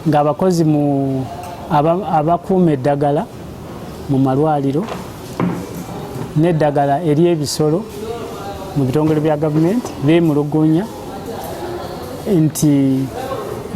ng'abakozi mu abakuuma eddagala mu malwaliro n'eddagala ery'ebisolo mu bitongole bya gavumenti beemulugunya nti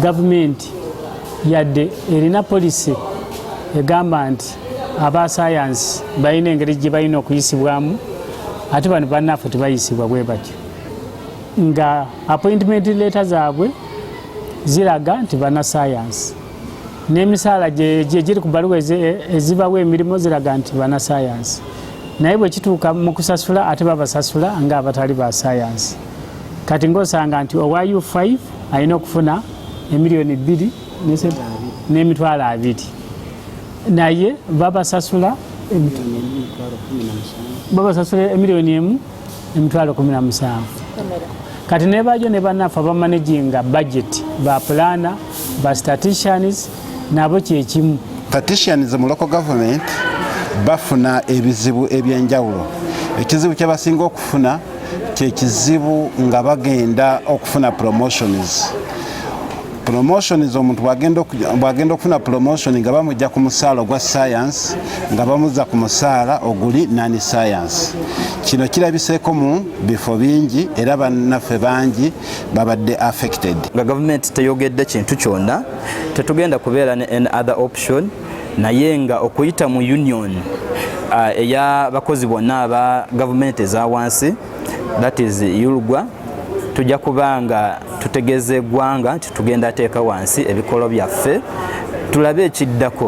gavumenti yadde erina polisi egamba nti aba sayansi balina engeri gye balina okuyisibwamu ate bano bannaffe tebayisibwa bwe batyo nga appointment leeta zaabwe ziraga nti banasayansi n'emisaala gyegiri ku baluwa ezibawo emirimu ziraga nti banasayansi naye bwe kituuka mu kusasula ate babasasula nga abatali ba sayansi kati ng'osanga nti owa u5 alina okufuna emiliyoni bbiri n'emitwalo abiri naye babasasula babasasula emiliyoni emu emitwalo kumi na musanvu kati nebajo ne banaffe abamanaginga budget ba plana ba staticians nabo kyekimu staticians mu local government bafuna ebizibu ebyenjawulo ekizibu kyebasinga okufuna kyekizibu nga bagenda okufuna promotions promotions omuntu bwagenda okufuna promotion nga bamujja ku musaala ogwa science nga bamuzza ku musaala oguli nani science kino kirabiseeko mu bifo bingi era bannaffe bangi babadde affected nga gavumenti teyogedde kintu kyonna tetugenda kubeera ne an other option naye nga okuyita mu union uh, eya bakozi bonna aba gavumenti eza wansi that is yulugwa tujja kuba nga tutegeeza eggwanga nti tugenda teeka wansi ebikolo byaffe tulabe ekiddako